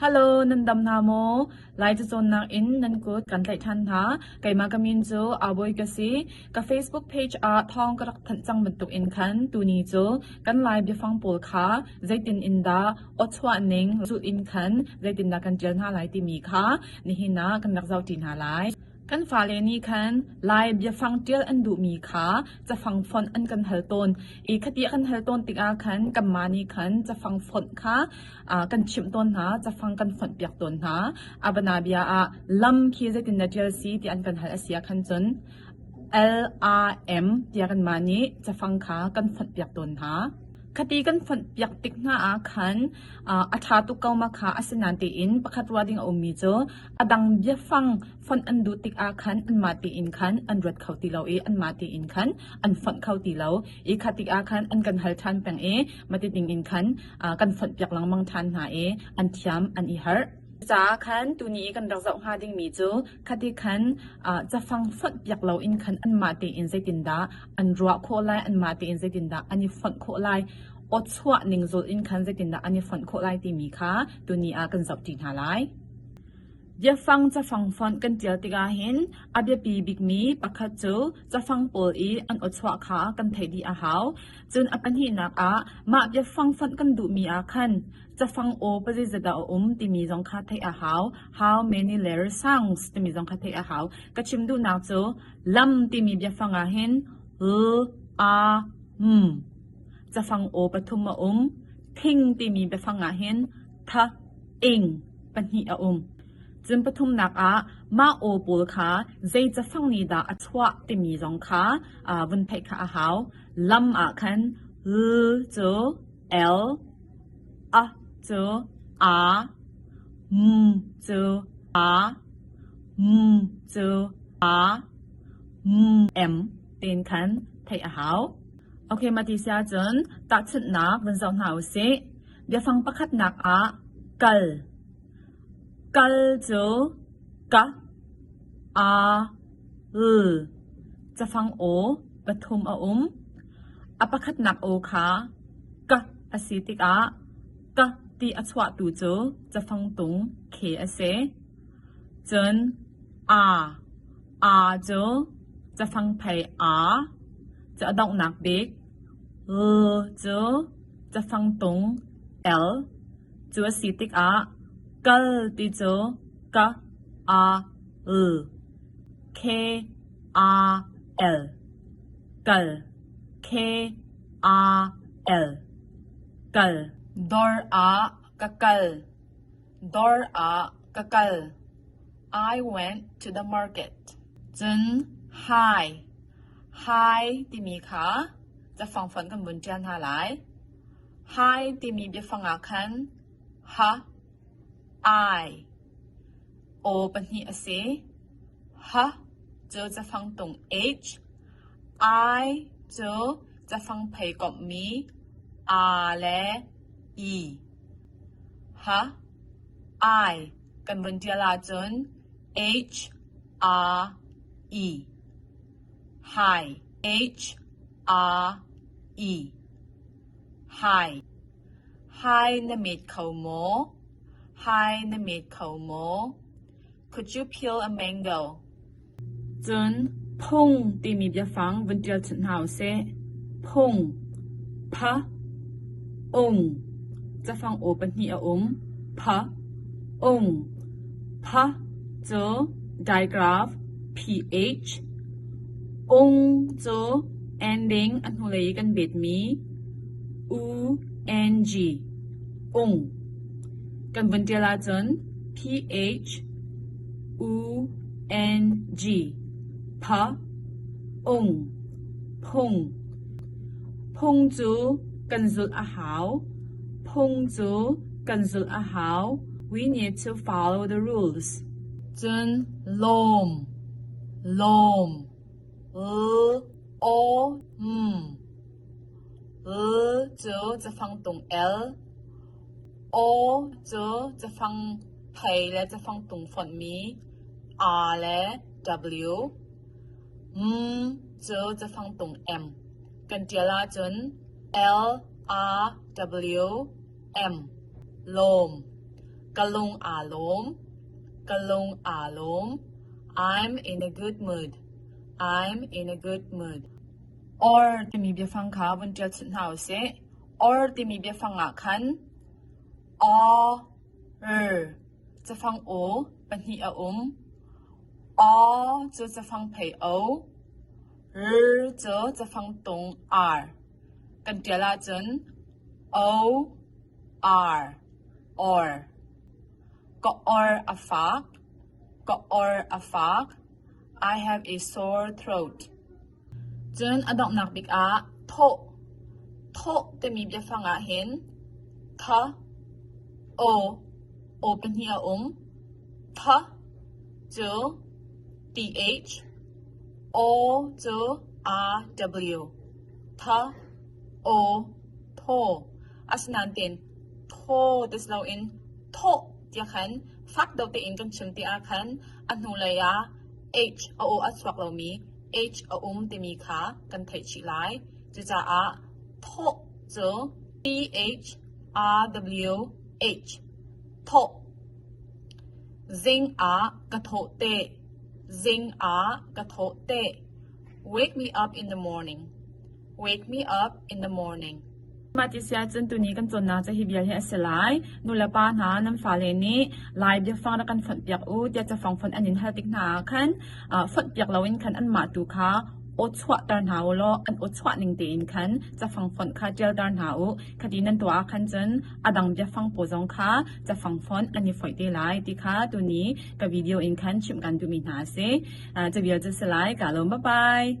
Hello, nan dam hna maw? Lai cu cawnnak in nan kut kan tlaih than hna. Keimah ka min cu Awoi ka si. Ka Facebook page ah thawng ka rak thanh cang bantuk in khan tuni cu kan lai biafang pawl kha zeitin in dah awchuah ning zulh in khan zeitin dah kan tial hna lai timi kha nihin ah kan rak zau ṭi hna lai. Kan fale nih khan Lai biafang ṭial an duhmi kha cafang fonh an kan hal tawn i khati a kan hal tawn tikah khan kanmah nih khan cafang fonh kha kan chimh tawn hna, cafang kan fonhpiak tawn hna. A bana bia ah lam khi zeitin na ṭial si ti an kan hal a si ah khan cun LRM tiah kanmah nih cafang kha kan fonhpiak tawn hna. Khati kan fonhpiak tik hna ah khan a ṭha tuk ko ma kha asinain tiin pakhat ruah ding a ummi cu A dang biafang fonh an duh tikah khan anmah tein khan an ruat kho ti lo i anmah tein khan an fonh kho ti lo. I kha tikah khan an kan hal ṭhan peng i mati dingin khan uh, kan fonh piak lengmang ṭhan hna i an thiam an i harh. Ca khan tuni i kan rak zoh hnga dingmi cu khati khan uh, cafang fonh piak loin khan anmah tein zeitindah an ruah khawh lai anmah tein zeitindah an i fonh khawh lai awchuah ning zul in khan zeitindah an i fonh khawh lai timi kha tuni ah kan zoh ṭi hna lai. Biafang cafang fonh kan ṭial tikah hin a biapi bikmi pakhat cu cafang pawl i an aw-chuah kha kan theih dih a hau. Cun a pahnihnak ah mah biafang fonh kan duhmi ah khan cafang aw pazeizat dah a um timi zong kha theih a hau. How many letters sounds timi zong kha theih a hau. Ka chim duhnak cu lam timi biafang ah hin l, a, m, cafang aw pathum a um. Thing timi biafang ah hin thak, ing pahnih a um. Cun pathumnak ah mah aw pawl kha zei cafang nih dah a chuah timi zong kha uh, vun theih kha a hau. Lam ah khan l cu L, a cu a, m cu a, m cu a, m m tin khan theih a hau. Okay, mati sia cun takchunnak vun zoh hna u sih. Biafang pakhatnak ah kal. Kal cu ka, a, l, cafang aw pathum a um. A pakhatnak aw kha ka a si tikah ka ti a chuahtu cu cafang tung khe a si. Cun a, a cu cafang phei a, cu a donghnak bik, l cu Cafangtung el cu a si tikah kal ti cu ka a l k a l kal k a l kal dawr ah ka kal dawr ah ka kal I went to the market cun hi hi timi kha Biafang fonh kan vun ṭial hna lai. Hi timi biafang ah khan ha, ai, aw pahnih a si. Ha cu cafang tung h, ai cu cafang phei komhmi a le i. Ha, ai kan vun ṭial ahcun h, a, i. Hi na mit kho maw? Could you peel a mango? Cun phung timi biafang vun ṭial chunh hna u sih. Phung, pha, ung, cafang aw pahnih a um. Pha, ung. Pha cu digraph ph, ung cu ending a hnulei i kan betmi u ng, ung, kan vun ṭial ahcun ph, u ng, pha, ung, phung. Phung cu kan zulh a hau. Phung cu kan zulh a hau. We need to follow the rules. Cun lawm, lawm, l, aw, m. L cu cafang tung el, aw cu cafang thei le cafang tung fonhmi, a le w, m cu cafang tung m. Kan tial ahcun L, A, W, Em lawm, ka lung aa lawm, ka lung aa lawm. I'm in a good mood. I'm in a good mood. Or timi biafang kha vun ṭial chut hna u sih. Or timi biafang ah khan o r cafang o pahnih a um. O cu cafang thei o, r cu cafang tung ar. Kan ṭial ahcun o, ar, or, ka or a fak, ka or a fak, I have a sore throat. Cun a donghnak bik ah thawh. Thawh timi biafang ahhin tha, o, o pahnih a um. Tha cu th, o cu rw. Tha, aw, thaw asinain thaw ti si loin thawh tiah khan fak deuh tein kan chim ti ahkhan a hnulei ah H a aw a chuak lomi H a um timi kha kan theih chih lai. Cucaah thawh cu T-H-R-W-H thawh. Zing ah ka thawh te. Zing ah ka thawh te. Wake me up in the morning. Wake me up in the morning. Mah ti sia cun tuni kan cawnnak ca hi bia hi a si lai. Nulepa hna nan fale nih lai biafang rak kan fonh piak u tiah cafang fonh an in hal tik hna ah khan ah fonh piak loin khan anmah tu kha aw chuahter hna u law an aw chuah ning tein khan cafang fonh kha ṭialter hna u. Khati nan tuah ah khan cun a dang biafang pawl zong kha cafang fonh an i foih te lai ti kha tuni ka video in khan chimh kan duhmi hna a si. Caviar cu salai kaa lawm babai.